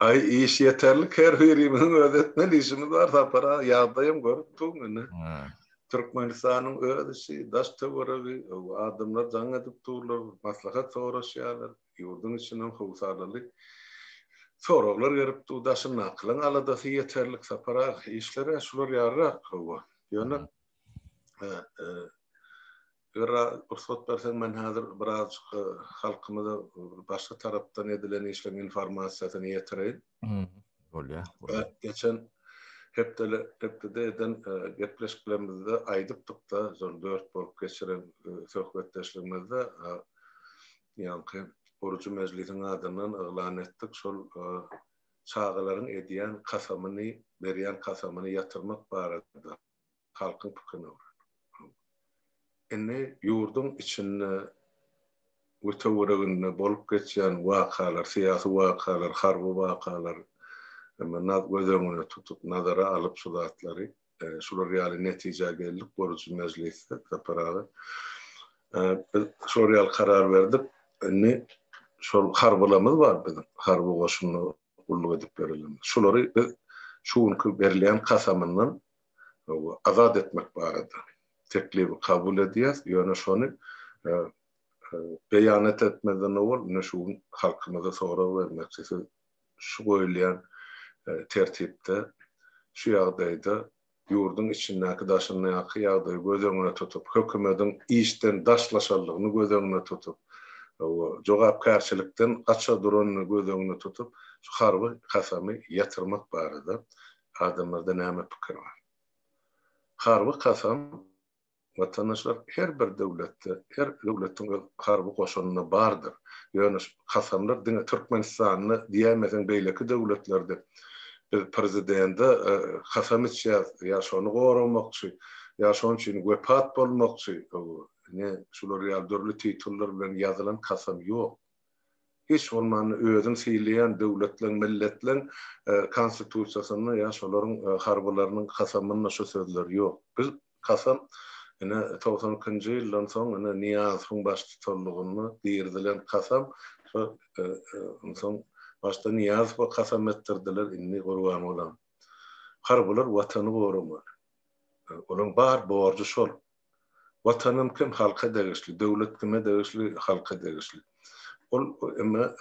Aý iş ýeterlik her birimiziň öz etmeli işimiz bar Sapar aga ýagdaýam görüp duruň indi. Türkmenistanyň öz işi daş töweregi adamlar jaň edip durlar maslahat soraşýarlar ýurduň içinden howsalaly soraglar gelip dur daşyndakylaryň aladasy ýeterlik Sapar aga işler-ä şular ýalyrak hawa ýöne Eger rugsat berseň men häzir birazjyk halkymyza başga tarapdan edilen işleň informasiýasyny ýetireýin. Bolýa. Geçen hepdele hepdede eden gepleşiklerimizde aýdypdykda şol dört bolup geçiren söhbetdeşligimizde ýaňky gurujy mejlisiň adyndan yglan etdik şol çagalaryň edýän kasamyny berýän kasamyny ýatyrmak barada. halkyň pikirini öwren. Indi ýurduň içinde we töwereginde bolup geçýän wakalar, syýasy wakalar, harby wakalar göz öňüne tutup, nazara alyp şu zatlary, şular ýaly netijä geldik, gurujy mejlisde Sapar aga. Biz şular ýaly karar berdik, indi şol harbylarymyz bar biziň, harby goşunda gulluk edip ýörenlerimiz. Şulary biz şu günki berilýän kasamyndan azat etmek barada teklibi kabul edýäs, ýöne şony beýanat etmezden owal ine şu gün halkymyza sorag bermekçi, siz şu goýulýan tertipde şu ýagdaýda ýurduň içindäki daşyndaky ýagdaýy göz öňüne tutup, hökümediň işden daşlaşandygyny göz öňüne tutup, jogapkärçilikden gaça duranyny göz öňüne tutup, şu harby kasamy ýatyrmak barada adamlarda näme pikir bar? Harby kasam, watandaşlar, her bir döwletde, her döwletiň öz harby goşunyna bardyr. Ýöne şu kasamlar diňe Türkmenistanda diýäýmeseň beýleki döwletlerde biz prezidende kasam içýäs, ýa şony goramakçy, ýa şoň üçin wepat bolmakçy, ine şular ýaly dürli titullar bilen ýazylan kasam ýok. Hiç bolmanda özüň sylaýan döwletleň, milletleň konstitusiýasynda ýa şolaryň harbylarynyň kasamynda şu sözler ýok. Biz kasam ine togsan ikinji ýyldan soň ine Nyýazowyň baştutanlygynda girizilen kasam şo onsoň başda Nyýazowa kasam etdirdiler indi gurban bolam. Harbylar watany goramaly. Olaryň bar borjy şol. Watanym kim halka degişli, döwlet kime degişli halka degişli. Ol emma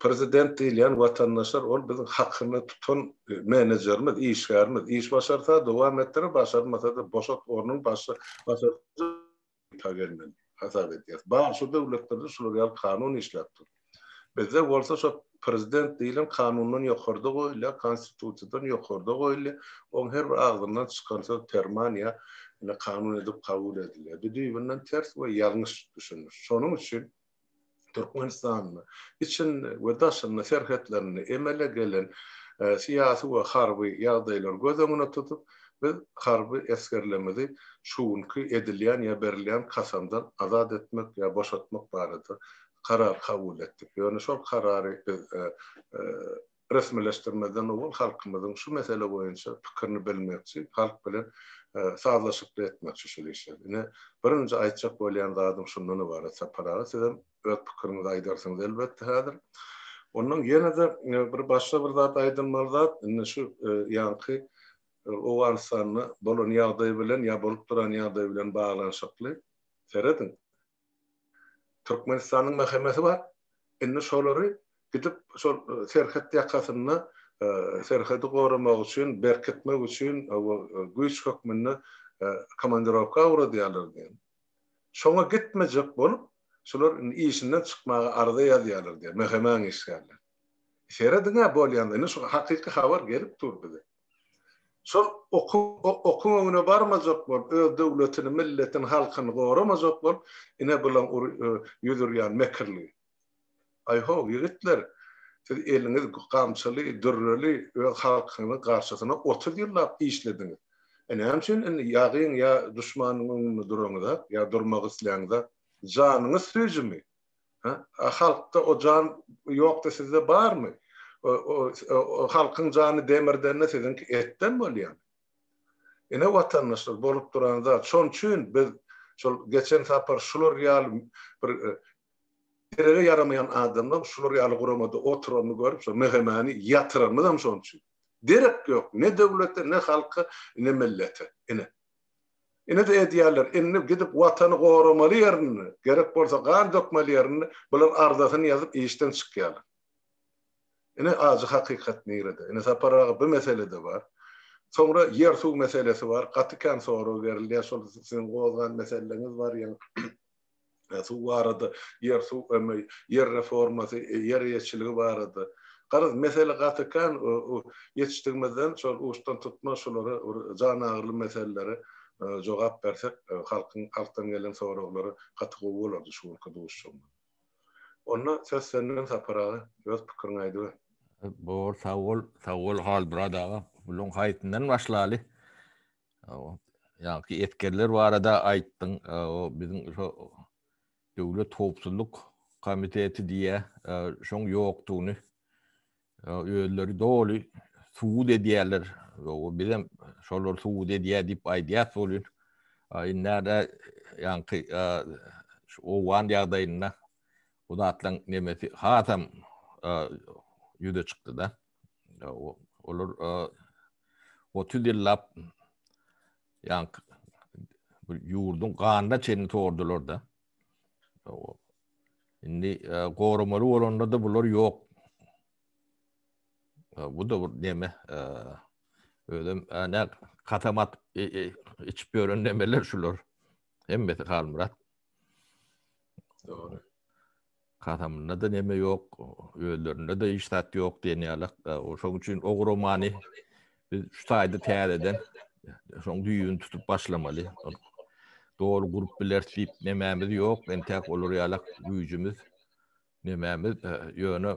prezident diýilýän watandaşlar ol biziň hakyny tutan menejerimiz, işgärimiz, iş başarsa dowam etdirer, başarmasada boşat ornuň başy hasap edýäs. Bar şu döwletlerde şular ýaly kanun işläp dur. Bizde bolsa şo prezident diýilen kanundan ýokarda goýulýar, konstitusiýadan ýokarda goýulýar, oň her bir agzyndan çykan söz perman ýa ine kanun edip kabul edilýär. Bu düýbünden ters we ýalňyş düşüniş. Şonuň üçin Türkmenistanda içinde we daşynda serhetlerinde emele gelen syýasy we harby ýagdaýlary göz öňüne tutup biz harby esgerlemizi şu günki edilýän ýa berilýän kasamdan azat etmek ýa boşatmak barada karar kabul etdik. Ýöne şol karary biz resmileşdirmezden owal halkymyzyň şu mesele boýunça pikirini bilmekçi, halk bilen sazlaşykly etmekçi şol işi. Ine, birinji aýtjak bolýan zadym şundan ybarat, Sapar aga, siz hem öz pikiriňizi aýdarsyňyz elbetde häzir. Ondan ýene-de bir başga bir zat aýdylmaly zat, indi şu ýaňky Owganystanda bolan ýagdaý bilen ýa bolup duran ýagdaý bilen baglanyşykly, serediň, Türkmenistanyň mähemesi bar. Indi şolary gidip şol serhet ýakasynda serhedi goramak üçin, berkitmek üçin güýç hökmünde komandirowka ugradýarlar diýen. Şoňa gitmejek bolup, şular indi işinden çykmaga arza ýazýarlar diýen, mähemäň işgärleri. Serediň-ä bolýanlary. Indi şu hakyky habar gelip dur bize. Şol okuň öňüne barmajak bolup, öz döwletini, milletini, halkyny goramajak bolup, ine bilen ýüz urýan mekirligi. Aý-ho, ýigitler, siz eliňiz gamçyly, dürreli öz halkyňyzyň garşysyna otuz ýyllap işlediňiz. E näme üçin indi ýagyň ýa duşmanyň öňünde duraňyza, ýa durmak isläňiza? Janyňyz süýjümi? A halkda o jan ýokdy sizde barmy? O halkyň jany demirden-de siziňki etden bolýar. Ine watandaşlar bolup duran zat. Şonuň üçin biz şol geçen sapar şular ýaly bir derege ýaramaýan adamlar şular ýaly guramada oturanyny görüp şo mehemäni ýatyranymyzam şonuň üçin. Derek ýok ne döwlete ne halka ne millete. Ine. Ine-de edýärler, indi gidip watany goramaly ýerinde, gerek bolsa gan dökmeli ýerinde bular arzasyny ýazyp işden çykýarlar. Ine ajy hakykat nirede? Ine Sapar aga bu mesele-de bar. Soňra ýer-suw meselesi bar. Gaty kän sorag berilýär, şol siziň gozgan meseleňiz bar ýene. suw barada, ýer-suw emmi, ýer reformasy, ýer eýeçiligi barada. Garaz, mesele gaty kän. Ýetişdigimizden şol uçdan tutmaz şulara bir jan agyryly meselelere jogap bersek, halkyň, halkdan gelen soraglara gaty gowy bolardy şu günki duşuşygymyz. Onda söz sende Sapar aga, öz pikiriňi aýdyber. Bor, sag bol. Sag bol Halmyrat aga. Bularyň haýsyndan başlaly? Ýaňky esgerler barada aýtdyň, o biziň şu Döwlet howpsuzlyk komiteti diýýä, şoň ýokdugyny özleri doly subut edýärler. Ýoga bizem şolar subut edýär diýip aýdýas bolýar. Indä ýaňky şu owgan ýagdaýynda bu zatlaryň nemesi hasam ýüze çykdy-da. Olar 30 ýyllap ýan ýurduň ganyna çenli sordular da. Indi goramaly bolanda da bular ýok. Bu da bir neme özüm ana katamat içip gören nemeler şular. Hemmesi Halmyrat. Doğru. Kasamynda-da neme ýok, özlerinde-de hiç zat ýok diýen ýalak. Şoň üçin o romany biz şu taýda täzeden şoň düýbüni tutup başlamaly. Doly gurup bileris diýip nemämiz ýok. Entäk olar ýalak güýjümiz, nemämiz, ýöne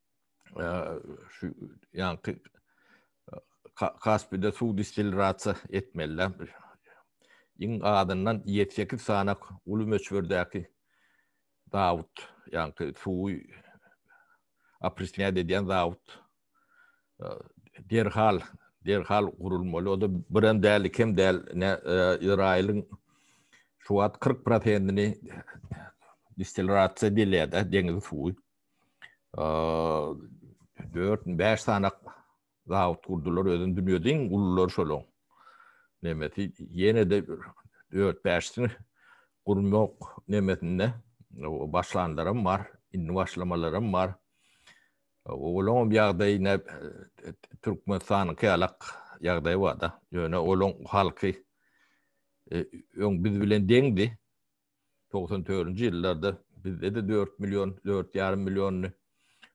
şu ýanky Kaspide suw distilirasiýa etmeliler. Iň azyndan 7-8 sany uly möçberdäki zawod, ýanky suwy oprisňat edýän zawod derhal, derhal gurulmaly. O-da bir hem däl, iki hem däl, ine, Izraýylyň şu wagt 40 prosentini distilirasiýa edilýär-de, deňiz suwy. dört bäş sany zawut gurdular özün dünýädiň gullar şolaň nemesi ýene de dört bäşini gurmak nemesinde başlanlarym bar indi başlamalarym bar olaň ýagdaýy ne türkmenistanyň kälak ýagdaýy bar da ýöne olaň halky öň biz bilen deňdi togsan törünji ýyllarda bizde-de dört million, dört ýarym milliondy.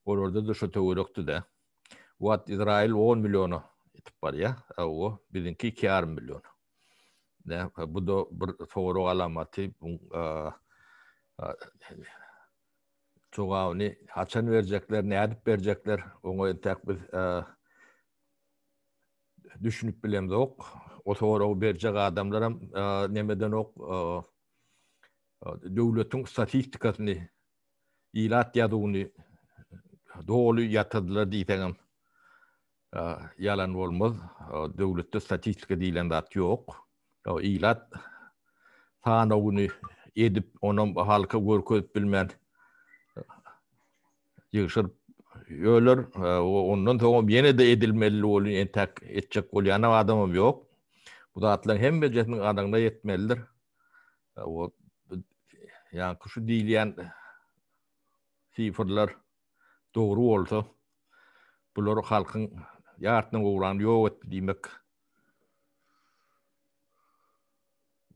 Olarda-da şo töwerekdi-dä. Bu wagt Izraýyl on milliona ýetip barýar. Hawa, biziňki iki ýarym million. Nä, bu-da bir sorag alamaty. Jogabyny haçan berjekler, nädip berjekler, oňa entäk biz Düşünip bilemzok. O soragy berjek adamlaram nemedenok. Döwletiň statistikasyny, ilat ýazuwyny doly ýatyrdylar diýseňem ýalan bolmaz. Döwletde statistika diýlen zat ýok. Ilat sanawyny edip, onam halka görkezip bilmän ýygşyryp öler. Ondan soňam ýene-de edilmeli bolýar, entäk etjek bolýanam adamam ýok. Bu zatlaryň hemmejesini ganygyna ýetmelidir. O ýaňky şu diýilýän sifrler dogry bolsa, bular halkyň ýartyna gowragyny ýok etdi diýmek.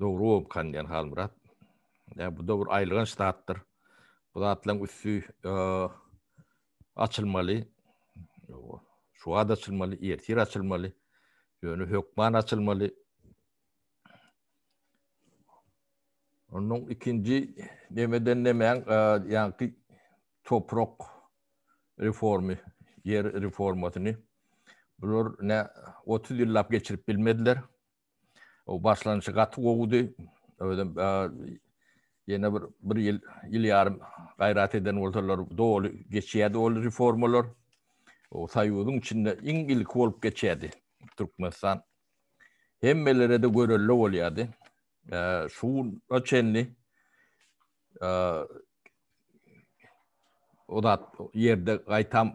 Dogry bopkan diýen Halmyrat. Ýa bu dogry aýylganç zatdyr. Bu zatlaryň üsti açylmaly. Şu wagt açylmaly, ertir açylmaly. Ýöne hökman açylmaly. Onuň ikinji nemeden nemäň ýaňky toprak reformy, ýer reformasyny bular ne 30 ýyllap geçirip bilmediler. O başlanşy gaty gowudy. Özüm ýene bir bir ýyl, ýyl ýarym gaýrat eden bolsalar doly geçýärdi ol reformalar. O soýuzyň içinde iň ilki bolup geçýärdi Türkmenistan. Hemmelere de görelde bolýardy. Şu güne çenli o zat ýerde gaýtam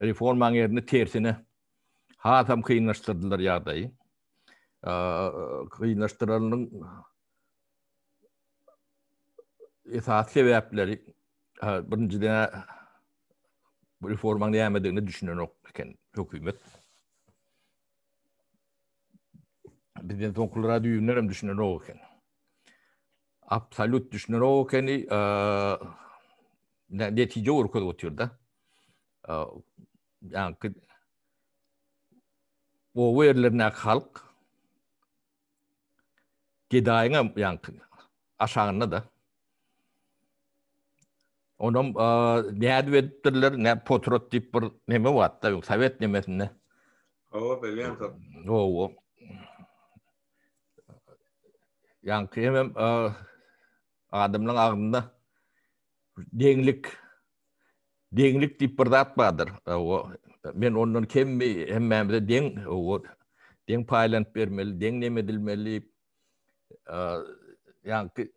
reformaň ýerini tersine hasam kynlaşdyrdylar ýagdaýy. Kynlaşdyranyň esas sebäpleri birinjiden bu reforma nämedigini düşünenok eken hökümet. Bizden soňkulara düýbünden hem düşünenok eken. Absolut düşünenok ekeni netije görkezip otyr da. ýaňky oba ýerlerindäki halk gedaýyň hem ýaňky aşagynda-da. Onam nädip edipdirler, nä potrot diýip bir neme wagtda, sowet nemesinde. Owa, belýän zat. Owa. Ýaňky hem adamlaryň agzynda deňlik deňlik diýip bir zat bardyr. Men ondan kemmi hemmämize deň deň paýlanyp bermeli, deň nem edilmeli. Ýagny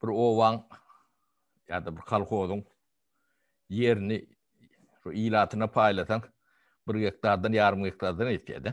bir owaň ýa-da bir kolhozyň ýerini şu ilatyna paýlasaň, bir gektardan ýarym gektardan ýetýär-de.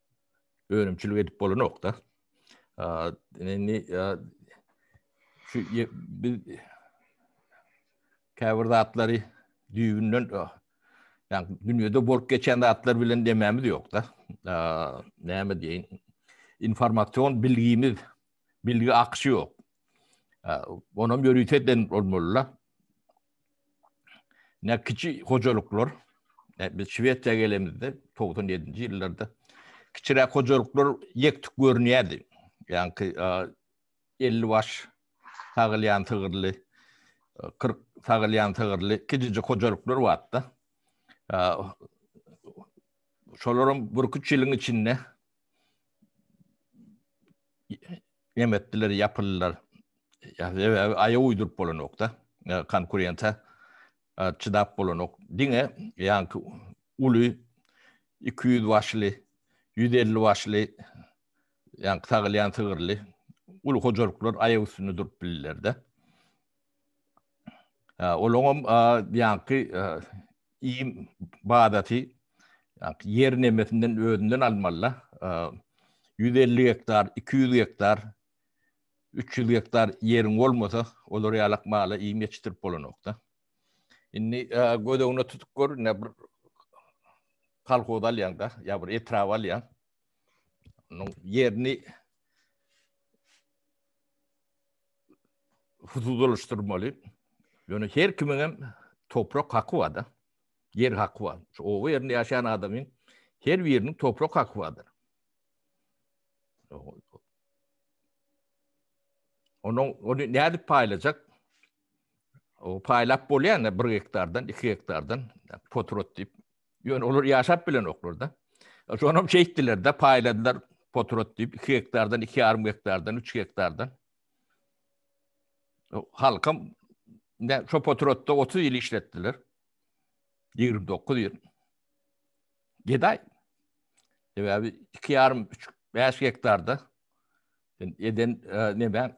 önümçilik edip bolanok da. Indi şu biz käbir zatlary düýbünden yani dünýäde bolup geçen zatlar bilen demämiz ýok da. Näme diýin? Informasyon bilgimiz, bilgi akşy ýok. Onam ýörite den bolmaly. Ne kiçi hojalyklar, e, biz Şwesiýa gelemizde 97-nji ýyllarda kiçiräk hojalyklar ýektik görünýärdi. Ýagny 50 baş sagylýan sygyrly, 40 e, sagylýan sygyrly kiçijik hojalyklar bardy. Şolaryň bir-iki ýylyň içinde nem etdiler, ýapyldylar. Sebäbi aýa uýduryp bolanokda, konkurenta çydap bolanok. Diňe ýaňky uly 200 başly, 150 başly ýaňky sagylýan sygyrly uly hojalyklar aýak üstünde durup bildiler-de. Olaňam ýaňky iým badaty ýer nemesinden özünden almaly-da. Ýüz elli gektar, iki ýüz gektar, üç ýüz gektar ýeriň bolmasa, olar ýalak mala iým ýetişdirip bolanok-da. Indi göz öňüne tutup gör, ine bir kolhoz alýaň-da, ýa bir etrap alýaň. Onuň ýerini huzudalaşdyrmaly. Ýöne her kimiň hem toprak haky barda. Ýer haky bar. Şu oba ýerinde ýaşaýan adamyň her biriniň toprak haky bardyr. Onuň ony nädip paýlajak? O paýlap bolýan bir gektardan, iki gektardan potrot diýip. Ýöne olar ýaşap bilen oklar da. Şonam şeýtdiler de paýladylar potrot diýip, iki gektardan, iki ýarym gektardan, üç gektardan. Halkam ne şo potrotda 30 ýyl işletdiler. 29 ýyl. Gedaý. Sebäbi 2,5 3 5 gektarda eden e, näme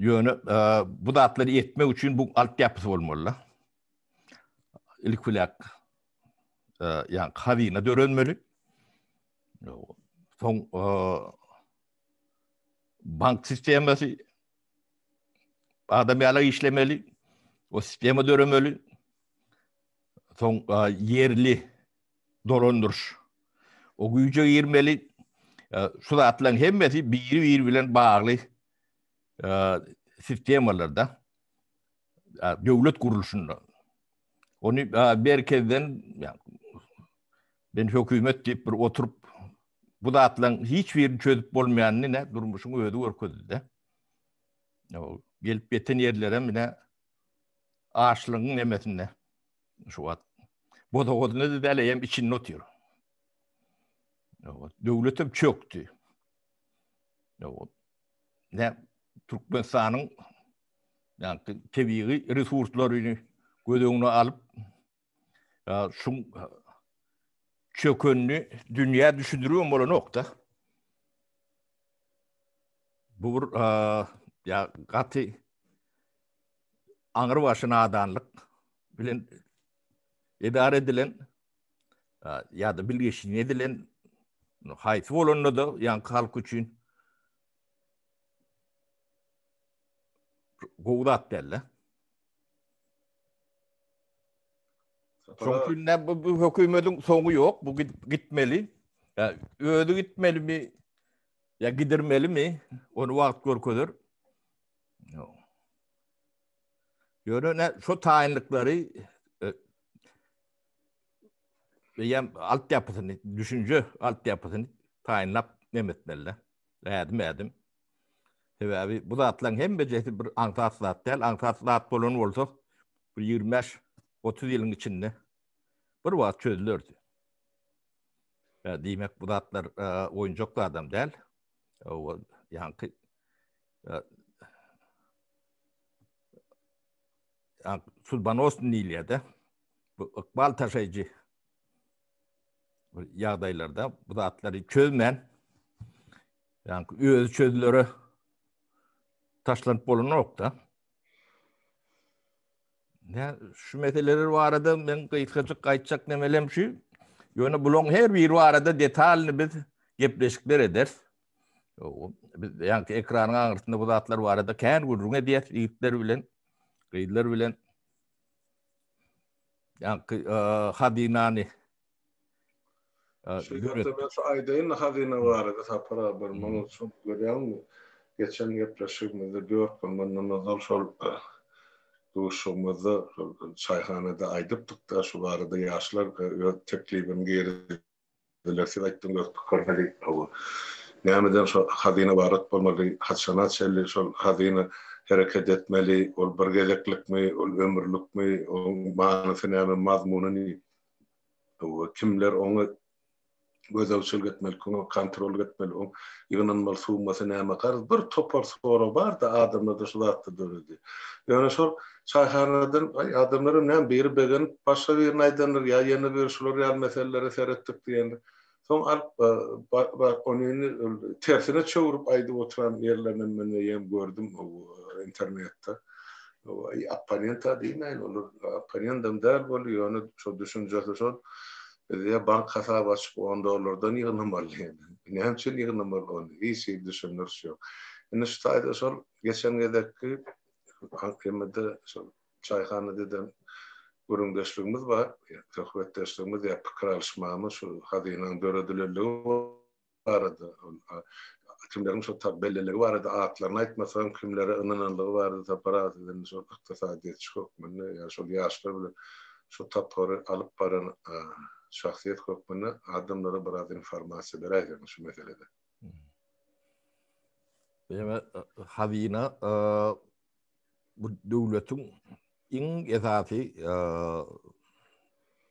Ýöne bu zatlary etmek üçin bu alt ýapysy bolmaly. Ilk bilen ýa hazyna dörenmeli. Soň bank sistemasy adam ýaly işlemeli. O sistema döremeli. Soň ýerli dolandyryş. O güýje girmeli. Şu zatlaryň hemmesi biri-biri bilen bagly sistemalarda, döwlet gurluşynda. Ony merkezden, men hökümet diýip bir oturyp, bu zatlaryň hiç birini çözüp bolmaýanyny ine durmuşyň özi görkezdi-de. Gelip ýeten ýerlerem ine açlygyň nemesinde. Şu wagt bodagodyna da däl eýem içinde otyr. Döwletem çökdi. Ne Türkmenistanyň ýa-da tebigy resurslaryny göz öňüne alyp, şu çökünni dünýä düşündirýän bolan ýok-da. Bu bir ýa gaty aňry başy nadanlyk bilen edara edilen ya da bilgeşin edilen haýsy bolanda da ýaňky halk üçin gowy zat däl-de. Çünki ne bu, bu hökümetiň soňy ýok, bu gitmeli. Ya özi gitmelimi? Ya gidirmelimi? Onu wagt görkezer. Ýöne şu taýynlyklary e, eýem alt ýapysyny, düşünje alt ýapysyny taýynlap nemetmeli. Ädim ädim. Sebäbi bu zatlaryň hemmesi bir aňsat zat däl. Aňsat zat bolan bolsa bir 25-30 ýylyň içinde bir wagt çözülerdi. Diýmek bu zatlar e, oýunjak adam däl. Ýa-da Судbanostny diýilýär-de. Bu ykbal taşaýjy ýagdaýlarda bu zatlary çözmän, ýagny özi çözülere taşlanyp bolanok-da. Nä, şu meseleler barada men gysgajyk aýtjak nemelem şu, ýöne bularyň her biri barada detalny biz gepleşikler ederis. Biz ýaňky ekranyň aňyrsynda bu zatlar barada kän gürrüň edýäs ýigitler bilen, gyzlar bilen. Ýaňky e, hazynany Şeýle şu aýdaýyn hazyna barada sapar bir muny çok görýärmi? Geçen gepleşigimizde 4 gün mundan ozal şol e, duşugymyzda şol çaýhanada aýdypdyk-da şu barada ýaşlar e, öz teklibini geri Belesiz aýtdyň öz pikirleri hawa. Nämeden şo hazyna ybarat bolmaly, haçana çenli şol hazyna hereket etmeli, ol bir gezeklikmi, ol ömürlikmi, oň manysy näme, mazmuny ne? Hawa, kimler oňa gözegçilik etmeli, kimler oňa kontrollyk etmeli, oň ýygnanmaly summasy näme? Garaz, bir topar sorag bar-da adamlarda şu zatda döredi. Ýöne şol Çaýhanadan, aý, adamlaram näme, biri begenip, başga birine aýdandyr, ýa ýene bir şular ýaly meselelere seretdik diýendir. Soň alyp, ba-ba, onyny tersine çöwrüp aýdyp oturan ýerlerinem men eýýäm gördüm internetde. Opponent-a diýmäýin, olar opponentam däl boldy, ýöne şol düşünjesi şol, Bizä bank hasaby açyp, on dollardan ýygnamaly diýendir. Näme üçin ýygnamaly ony? Hiç hili düşündiriş ýok. Indi şu taýda şol geçen gezekki Aňkymyda şol çaýhana deden gürrüňdeşligimiz bar, söhbetdeşligimiz ýa pikir alyşmamyz şu hazynanyň döredilenligi barada, kimleriň şo tar belliligi barada, atlaryny aýtmasagam, kimlere ynananlygy barada Sapar aga siz indi şol ykdysadyýetçi hökmünde ýa şol ýaşlar bilen şu tapgyry alyp baran şahsyýet hökmünde adamlara biraz informasiýa beräýseňiz şu meselede. Ýöne hazyna bu döwletiň iň esasy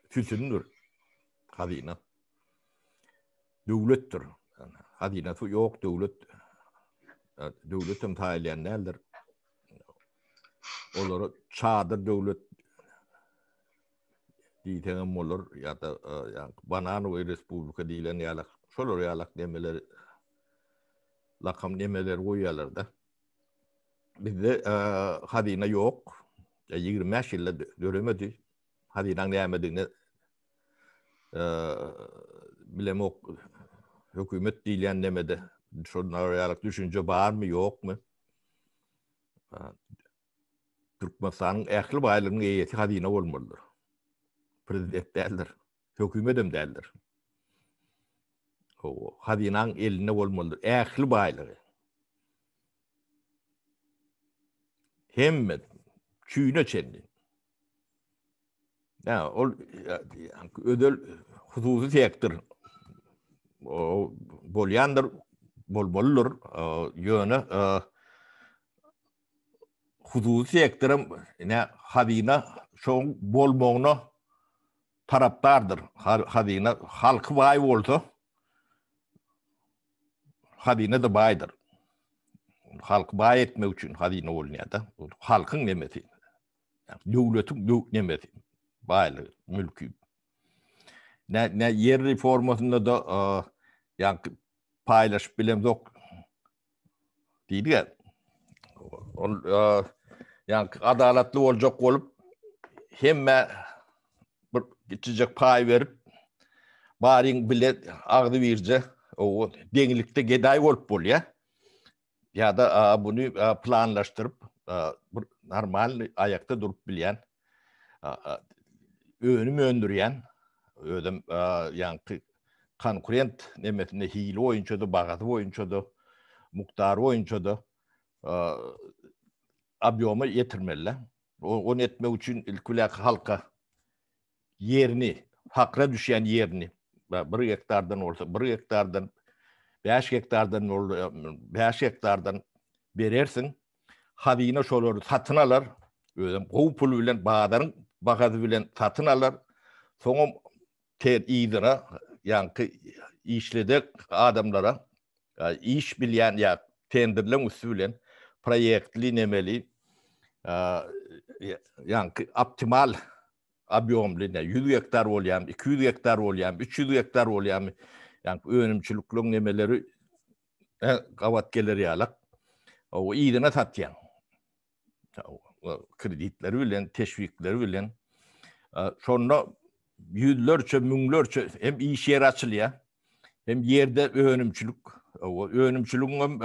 sütündir. Hazyna. Döwletdir. Hazynasy ýok döwlet. Döwlet hem taýýan däldir. Olara çadyr döwlet diýseňem bolar ýa-da bananowy respublika diýlen ýaly şolar ýaly nemeler lakam nemeler goýýarlar-da. Bizde hazyna ýok. Ýigrimi bäş ýylda döremedi. Hazynaň nämedigini bilemok. Hökümet diýlen nemede şolar ýaly düşünje barmy, ýokmy? Türkmenistanyň ähli baýlygynyň eýesi hazyna bolmalydyr. Prezident däldir. Hökümetem däldir. Hawa, hazynaň elinde bolmalydyr ähli baýlygy. Hemme çüýne çenli. Ýa, ol özel hususy sektor bolýandyr, bolmalydyr. Ýöne hususy sektoram ine hazyna şoň bolmagyna tarapdardyr. Hazyna halky baý bolsa hazyna-da baýdyr. Halky baý etmek üçin hazyna bolunýar-da. Halkyň nemesi. Döwletiň nemesi. Baýlygy, mülki. Ne, ne ýer reformasynda da ýa paýlaşyp bilemzok. Diýdi gel. Ol yani adalatly olacak bolup hemme bir kiçijek pay berip baryň bile agzy birje o deňlikde geday bolup bolýa. Ya da bunu planlaştırıp bir normal ayakta durup bilýän önüm öndürýän özüm ýaňky konkurent nemesinde hili boýunça da bagasy boýunça da mukdary boýunça da obýoma ýetirmeli. Onu etmek üçin ilki bilen halka ýerini, fakra düşýän ýerini 1 gektardan bolsa 1 gektardan 5 gektardan 5 gektardan berersiň. Hazyna şolary satyn alar, özem gowy pul bilen bazaryň bahasy bilen satyn alar. Soňam ter yzyna ýaňky işledek adamlara iş bilýän ýa tenderleň üsti bilen proýektli nemeli ýaňky optimal obýomly 100 gektar bolýarmy, 200 gektar bolýarmy, 300 gektar bolýarmy, ýaňky önümçilikliň nemeleri Hä, gabat geler ýalak. Ow, yzyna satýaň. Kreditleri bilen, teşwikleri bilen. Şonda ýüzlerçe, müňlerçe hem iş ýeri açylýar. Hem ýerde önümçilik, ow, önümçiligiň hem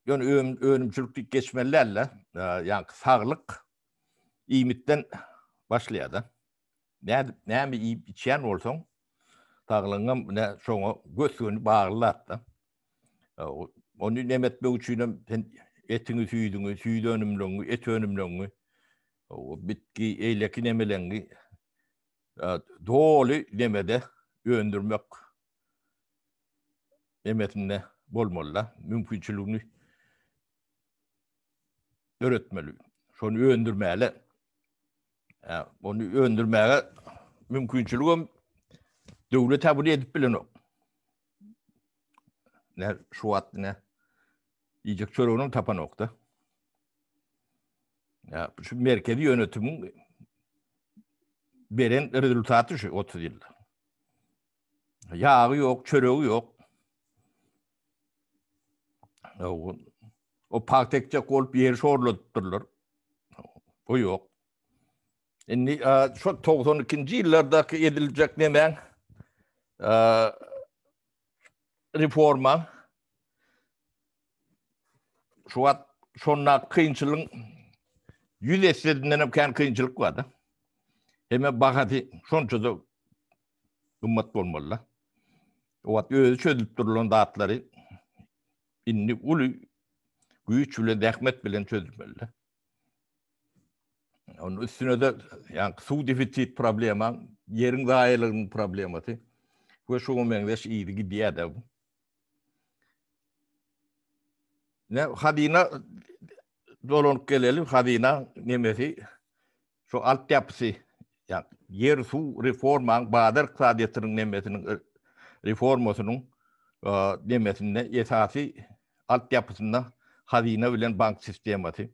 ýöne önümçilik diýip geçmeli däl-de, ýa saglyk iýmitden başlaýar-da. Nädip, näme iýip içýän bolsaň, saglygyňam ine şoňa gös-göni bagly zat-da. Ony neme etmek üçinem sen etiňi, süýdüňi, süýt önümleňi, et önümleňi, bitki, eýleki nemeleňi doly nemede öndürmek nemesinde bolmaly-da, mümkinçiligini döretmeli. Şony öndürmäle Ony öndürmäge mümkinçilik hem döwlet ha bunu edip bilenok. Ne şu wagt ne iýjek çöregini tapanok da. Ya şu merkezi yönetimin beren rezultatı şu 30 yılda. Yağı yok, çöreği yok. O pagt ekjek bolup ýeri şorladypdyrlar. Bu ýok. Indi şu 92-nji ýyllardaky ediljek nemäň reforma şu wagt şonda kynçylygyň ýüz esse hem kän kynçylyk bar-da. Hemme bahasy şonça-da gymmat bolmalyda. O wagt özi çözülip durulan zatlary indi uly güýç bilen, zähmet bilen çözülmelida. Onun üstüne de yani su defisit problema, yerin zayiliginin probleması ve şuna meňzeş iydi gidiyor da bu. Ne hazina dolunup gelelim hazina nemesi şu altyapysy, ýagny ýer, suw reformaň bazar ykdysadyýetiniň nemesiniň reformasynyň nemesinde esasy altyapysynda hazyna bilen bank sistemasy.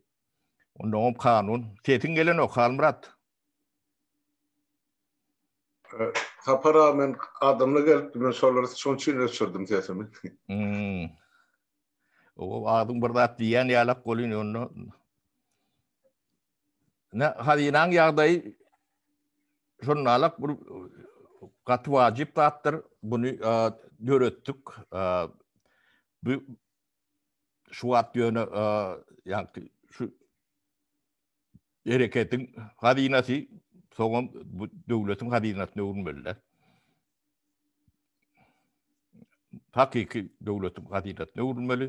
Onda hem kanun. Sesiň gelenok, Halmyrat. Sapar aga men adamly gelipdi, men şolar şoň üçin öçürdim sesimi. Hmm. O adyň bir zat diýýän ýalak bolýan onda. Ne hazinaň ýagdaýy şonalak bir gaty wajyp zatdyr. Bunu döretdik. Bu şu wagt ýöne ýagny şu hereketiň hazynasy soňam bu döwletiň hazynasyna öwrülmeliler. Hakyky döwletiň hazynasyna öwrülmeli.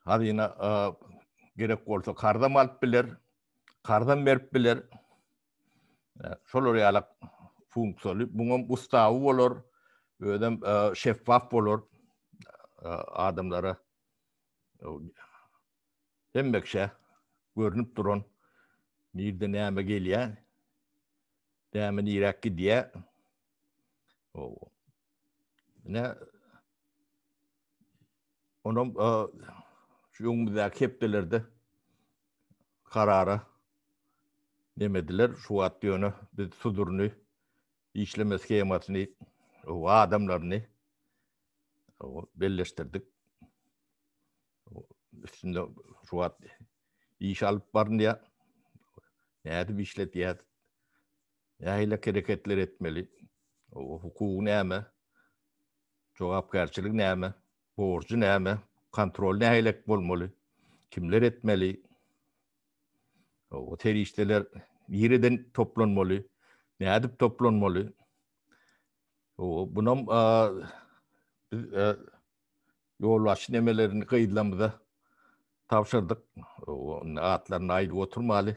Hazyna gerek bolsa karzam alyp biler, karzam berip biler. Şolar ýaly funksiýaly, muňam ustawy bolar, özem şeffaf bolar adamlara. Hemmekşe görünip duran nirde näme gelýär, näme niräk gidýär. Ne Onam şu öňümizdäki hepdelerde karara nemediler, şu wagt ýöne biz suduryny, işleme shemasyny, adamlaryny belleşdirdik. Üstünde şu wagt iş alyp barynýar. Nädip işledýär? Nähili hereketler etmeli? Hukugy näme? Jogapkärçilik näme? Borjy näme? Kontrol nähili bolmaly? Kimler etmeli? O serişdeler nireden toplanmaly? Nädip toplanmaly? O bunam biz ýol başy nemelerini gyzlamyza tabşyrdyk. Atlaryny aýdyp oturmaly.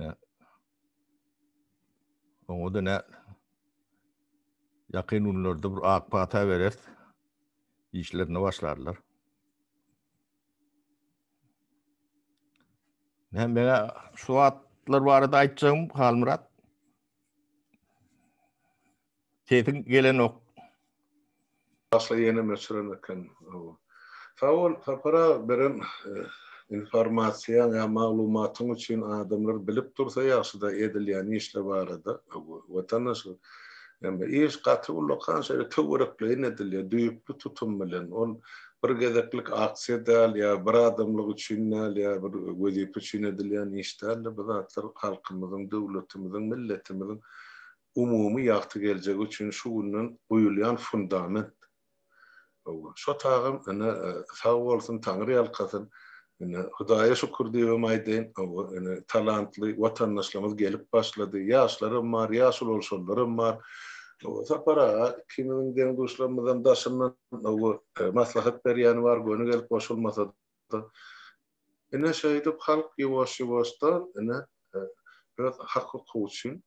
Ýa. Oňa da nä? Ýakyn günlerde bir ak pata berer. Işlerine başlarlar. Ne mene şu atlar barada aýtjagym Halmyrat. Sesiň gelenok. Asla ýenem öçüren eken. Sag bol Sapar aga beren informasiýaň ýa maglumatyň üçin adamlar bilip dursa ýagşyda edilýän işler barada watandaşlar ýagny iş gaty ullakan şeýle töwerekleýin edilýär düýpli tutum bilen ol bir gezeklik aksiýa däl ýa bir adamlyk üçin däl ýa bir wezipe üçin edilýän iş däldir bu zatlar halkymyzyň döwletimiziň milletimiziň umumy ýagty geljegi üçin şu günden guýulýan fundament. Hawa, şo tagam ine sag bolsun, taňryýalkasyn. Ine, Hudaýa şükür diýibem aýdaýyn. Hawa, ine talantly watandaşlarymyz gelip başlady. Ýaşlaram bar, ýaş ulalşanlaram bar. Hawa, Sapar aga, ikimiziň deň-duşlarymyzam daşyndan, hawa, maslahat berýäni bar, göni gelip goşulmasa-da. bolupdyr. Ine şeýdip halk ýuwaş-ýuwaşda ine öz hak-hukugy üçin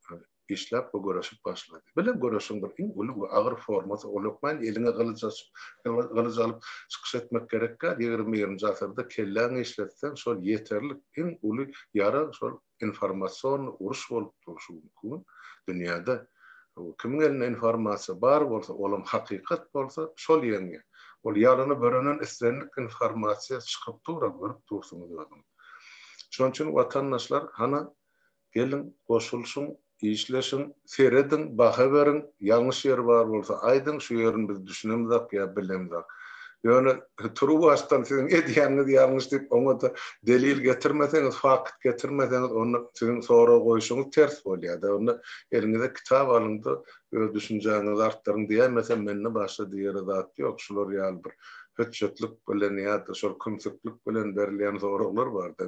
işläp we göreşip başlady. Bile göreşiň bir iň uly we agyr formasy ol hökmany eliňe gylyç açyp, gylyç alyp çykyş etmek gerek däl. Ýigrimi birinji asyrda kelläňi işletseň şol ýeterlik. Iň uly ýara şol. informasion uruş bolup durşy mümkin. Dünýäde kimiň elinde informasiýa bar bolsa, olam hakykat bolsa, şol ýeňýär. Ol ýalana börenen islendik informasiýa çykyp dur-a, görüp dursuňyz özüňiz. Şonuň üçin watandaşlar, hana, geliň, goşulyşyň, Işleşiň, serediň, baha beriň, ýalňyş ýeri bar bolsa aýdyň, şu ýerini biz düşünemzok ýa bilemzok. Ýöne turuwbaşdan siziň edýäniňiz ýalňyş diýip oňa-da delil getirmeseňiz, fakt getirmeseňiz onda siziň sorag goýuşyňyz ters bolýar-da. Onda eliňize kitap alyň-da öz düşünjäňizi artdyryň diýemesem mende başga diýere zat ýok. Şular ýaly bir hötjetlik bilen ýa-da şol kümsüklik bilen berilýän soraglar bar-da.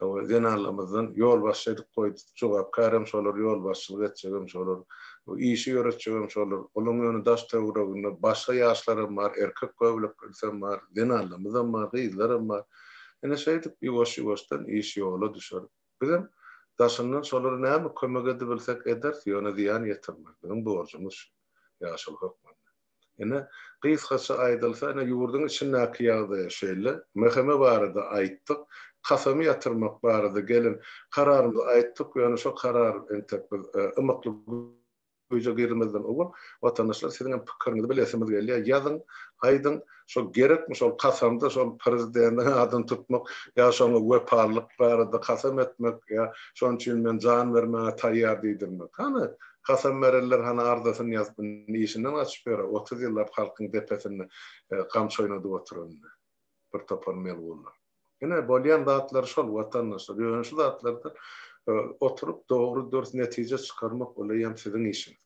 Hawa, zenanlarymyzdan ýolbaşçy edip goýdup, jogapkärem şolar, ýolbaşçylyk etjegem şolar, işi ýöretjegem şolar. Olaryň ýöne daş-töwereginde başga ýaşlaram bar, erkek göbeleklerisem bar, zenanlarymyzam bar, gyzlaram bar. Ine, şeýdip, ýuwaş-ýuwaşdan iş ýola düşer. Bizem daşyndan şolara näme kömek edibilsek ederis, ýöne zyýan ýetirmezligiň borjumyz şu, ýaşuly hökmünde. Ine, gysgaça aýdylsa, ine, ýurduň içindäki ýagdaýa şeýle. MHM barada aýtdyk. Kasamy ýatyrmak barada gelen kararymyzy aýtdyk, ýöne şo karar entek biz ymykly güýje girmezden owal, watandaşlar, siziň hem pikiriňizi bilesimiz gelýär, ýazyň, aýdyň. Şol gerekmi şol kasamda şol prezidentiň adyny tutmak ýa şoňa wepalylyk barada kasam etmek ýa şonuň üçin men jan bermäge taýýar diýdirmek. Hany, kasam berenler hany arzasyny ýazyp indi işinden gaçyp ýöre otuz ýyllap halkyň depesinde gamçy oýnadyp oturan indi bir topar melgunlar. Ine bolýan zatlary şol watandaşlar ýöne şu zatlarda oturyp dogry dürs netije çykarmak oleýem siziň işiňiz.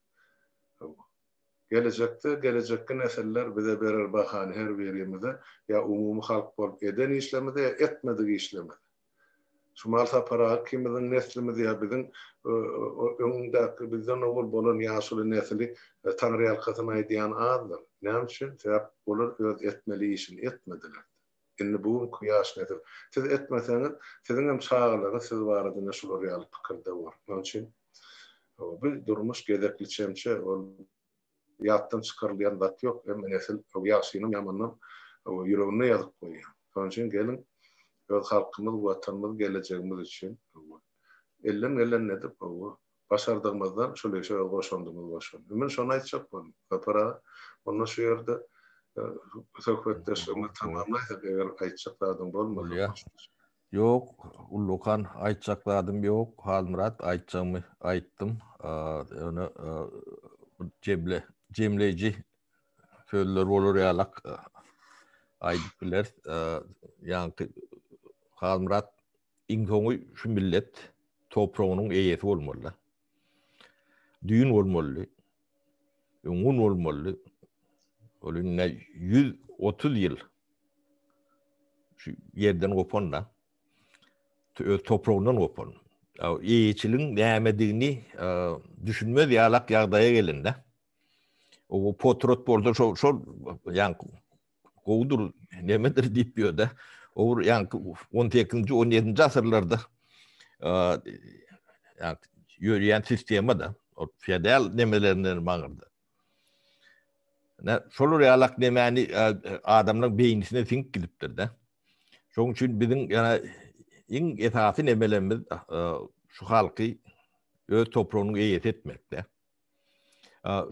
Gelejekde gelejekki nesiller bize berer bahany her birimize ýa umumy halk bolup eden işlemize ýa etmedik işlemize. Şumal Sapar aga kimiziň neslimiz ýa biziň öňdäki bizden owal bolan ýaşuly nesili taňryýalkasyn aýdýan azdyr. Näme üçin? Sebäp olar öz etmeli işini etmediler. Indi bu günki ýaş nesil, siz etmeseňiz, siziň hem çagalaryňyz siz barada ine şular ýaly pikirde bor. Şonuň üçin bu durmuş gezekli çemçe, ol ýatdan çykarylýan zat ýok. Hemme nesil ýagşynam, ýamanynam ýüreginde ýazyp goýýar. Şonuň üçin geliň, öz halkymyz, Watanymyz, gelejegimiz üçin elden gelende edip, Başardygymyzdan şul işe goşandymy goşan. Ümün şony aýtjak boldum. Sapar aga, onda şu ýerde söhbetdeşligimizi tamamlaýsak, eger aýtjak zadyň bolmasa. Ýok, ullakan aýtjak zadym ýok. Halmyrat, aýtjagymy aýtdym. Ýöne jemle, jemleýji sözler bolar ýalak aýdyp bileris. Ýaňky Halmyrat Iň soňy şu millet topragynyň eýesi bolmalydy. Düýn bolmalydy. Öňňun bolmalydy. Ol indi 130 ýyl şu ýerden gopanda öz topragyndan gopan. Eýeçiligiň nämedigini düşünmez ýalak ýagdaýa gelende. O potrot bolsa şol şol ýaňky gowudyr, nemedir diýip ýörde. Owur ýa 18-nji, 17-nji asyrlarda ýa ýörýän sistema da o feodal nemelerinden maňyrdy. Ne şolar ýalak nemeni adamlaryň beýnisine siňip gidipdir de. Şoň üçin biziň ýa iň esasy nemelerimiz şu halky öz topragynyň eýesi etmekde.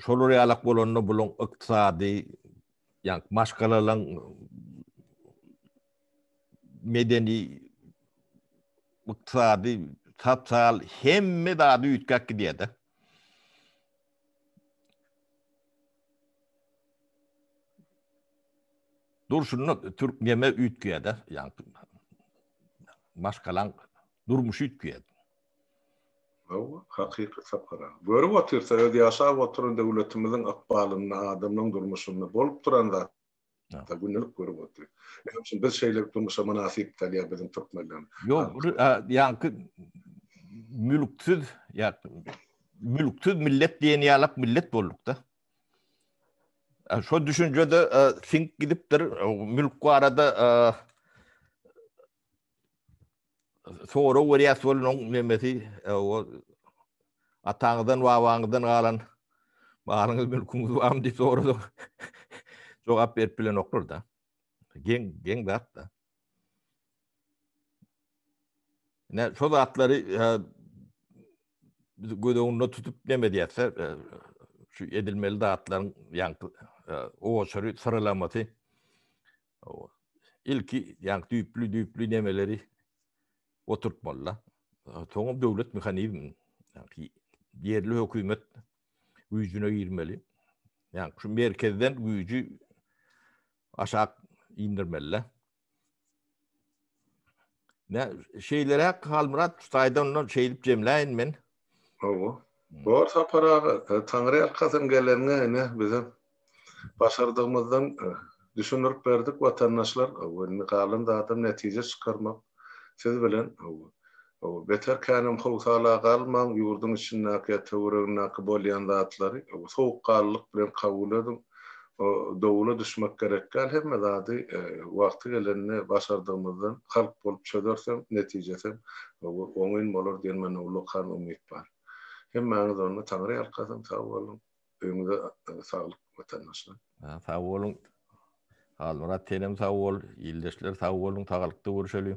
Şolar ýalak bolanda buluň ykdysady, ýa maşgalalaň medeni, ykdysady, sosial hemme zady üýtgäp gidýär-de. Durşuna türk neme üýtgeýär-de, ýa maşgalaň durmuşy üýtgeýär. Hawa, hakyky sapar-a. Görüp otyrsa, öz ýaşap oturan döwletimiziň ykbalynda, adamlaryň durmuşynda bolup duran zat. Ýa, gündelik görüp otyr. Näme üçin biz şeýle durmuşa mynasyp däl, ýa biziň türkmenlerimiz? Ýok, bu ýaňky mülksiz, ýa mülksiz millet diýen ýalak millet bolduk-da. Şo düşünje-de siňip gidipdir, mülk barada sorag berýäs bolanyň nemesi e, o ataňyzdan babaňyzdan galan malyňyz mülküňiz barmy diýip sorady. Jogap berip bilenoklar da. Geň geň zat da. Ne şu zatlary e, biz göz öňünde tutup neme diýse e, şu edilmeli zatlaryň ýaňky owaçary syralamasy ilki ýaňky düýpli-düýpli nemeleri oturtmaly-da. Soňam döwlet mehanizmini, ýaňky ýerli hökümet güýjüne girmeli. Ýaňky şu merkezden güýji aşak indirmeli-de. Ne şeylerek Halmyrat Kutay'dan ondan şeyip cemleyin men. Owo. Bor Sapar aga, e, Taňry ýalkasyn geleniňe ine bizem başardygymyzdan e, düşündirip berdik watandaşlar. Owo, indi galan zadam netije çykarmak siz bilen. Owo. Owo, beter känem howsala galmaň, ýurduň içindäki ýa töweregindäki bolýan zatlary owo, sowukgallylyk bilen kabul ediň. O dowula düşmek gerek däl hemme zady wagty gelende başardygymyzdan halk bolup çözersem netijesem oňyn bolar diýen mende ullakan umyt bar. Hemmäňiz onda Taňry ýalkasyn sag boluň öýňüze saglyk watandaşlar. Sag boluň Halmyrat senem sag bol ildeşler sag boluň sagalykda görüşeli.